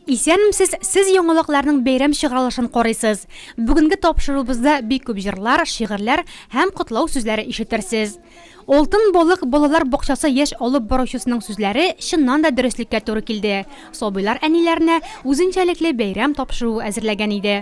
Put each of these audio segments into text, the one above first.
Исәнмсез, сез яңалыкларның бәйрәм чыгарылышын карыйсыз. Бүгенге тапшырубызда бик күп җырлар, шигырьләр һәм котлау сүзләре ишетерсез. Алтын балык балалар бакчасы яшь алып баручысының сүзләре чыннан да дөреслеккә туры килде, сабыйлар әниләренә үзенчәлекле бәйрәм тапшыруы әзерләгән иде.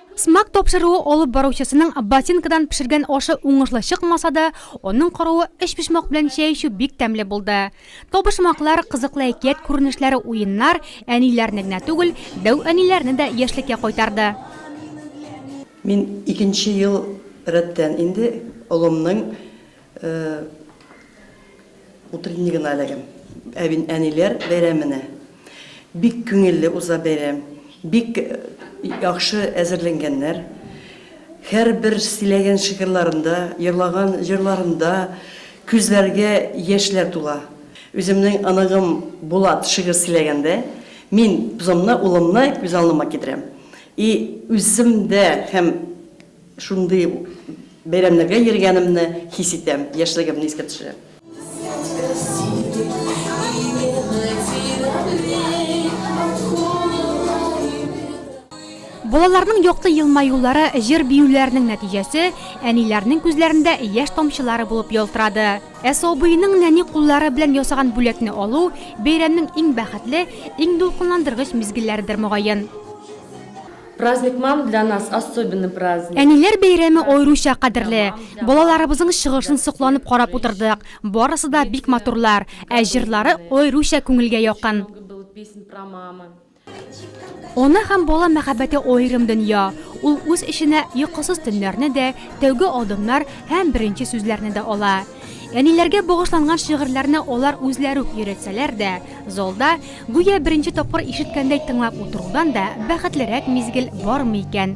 Смак тапшыруы алып баручысының ботинкадан пешергән ашы уңышлы чыкмаса да, аның каравы өчпочмак белән чәй эчү бик тәмле булды. Табышмаклар, кызыклы әкият күренешләре уеннар әниләрне генә түгел, дәү әниләрне дә яшьлеккә кайтарды. Мин икенче ел рәттән инде олымның Утренний гына эләгәм. Әбин әниләр бәйрәменә. Бик күңелле уза бәйрәм. Бик яхшы әзерләнгәннәр. Һәрбер сөйләгән шигырьларында, җырлаган җырларында күзләргә яшьләр тула. Үземнең оныгым Булат шигырь сөйләгәндә, мин бзымны, улымны күз алдыма китерәм. И үзем дә һәм Шундый бәйрәмнәргә йөргәнемне хис итәм, яшьлегемне искә төшерә. Балаларның якты елмаюлары җыр-биюләренең нәтиҗәсе әниләрнең күзләрендә яшь тамчылары булып ялтырады. Ә сабыйның нәни куллары белән ясаган бүләкне алу, бәйрәмнең иң бәхетле, иң дулкынландыргыч мизгелләредер, мөгаен. Праздник мам для нас особенный праздник. Әниләр бәйрәме аеруча кадерле. Балаларыбызның чыгышын сокланып карап утырдык. Барысы да бик матурлар, ә җырлары аеруча күңелгә якын. Ана һәм бала мәхәббәте аерым дөнья. Ул үз эченә йокысыз төннәрне дә, тәүге адымнар һәм беренче сүзләрне дә ала. Әниләргә багышланган шигырьләрне алар үзләре үк өйрәтсәләр дә, залда, гүя беренче тапкыр ишеткәндәй тыңлап утырудан да бәхетлерәк мизгел бармы икән?